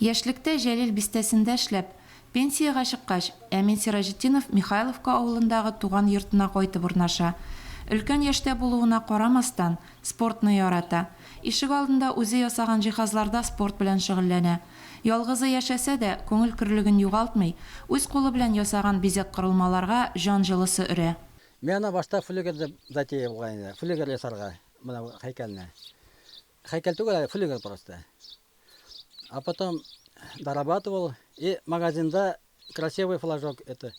Яшьлектә Җәлил бистәсендә эшләп, пенсиягә чыккач, Әмин Сираҗетдинов Михайловка авылындагы туган йортына кайтып урнаша. Өлкән яшьтә булуына карамастан, спортны ярата. Ишегалдында үзе ясаган җиһазларда спорт белән шөгыльләнә. Ялгызы яшәсә дә, күңел көрлеген югалтмый, үз кулы белән ясаган бизәк-корылмаларга җан җылысы өрә. Миңа башта флюгер дип затея булган иде, флюгер ясарга, менә бу һәйкәлне. Һәйкәл түгел әле, флигель просто. А потом дорабатывал и магазинда красивый флажок это.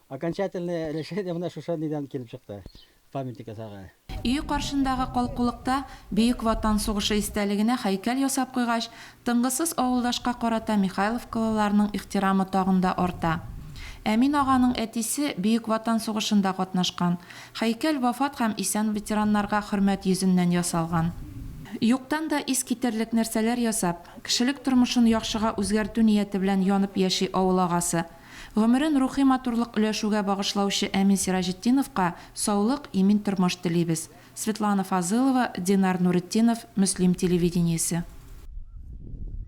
Окончательное решение менә шушы нидән килеп чыкты. Памятник ясарга. Өе каршындагы калкулыкта Бөек Ватан сугышы истәлегенә һәйкәл ясап куйгач, тынгысыз авылдашка карата михайловкалыларның ихтирамы тагын да арта. Әмин аганың әтисе Бөек Ватан сугышында катнашкан. Һәйкәл вафат һәм исән ветераннарга хөрмәт йөзеннән ясалган. Юктан да ис китерлек нәрсәләр ясап, кешелек тормышын яхшыга үзгәртү нияте белән янып яши авыл агасы. Гомерен рухи матурлык өләшүгә багышлаучы Әмин Сираҗетдиновка саулык, имин тормыш телибез. Светлана Фазылова, Динар Нуретдинов, Мөслим телевидениесе.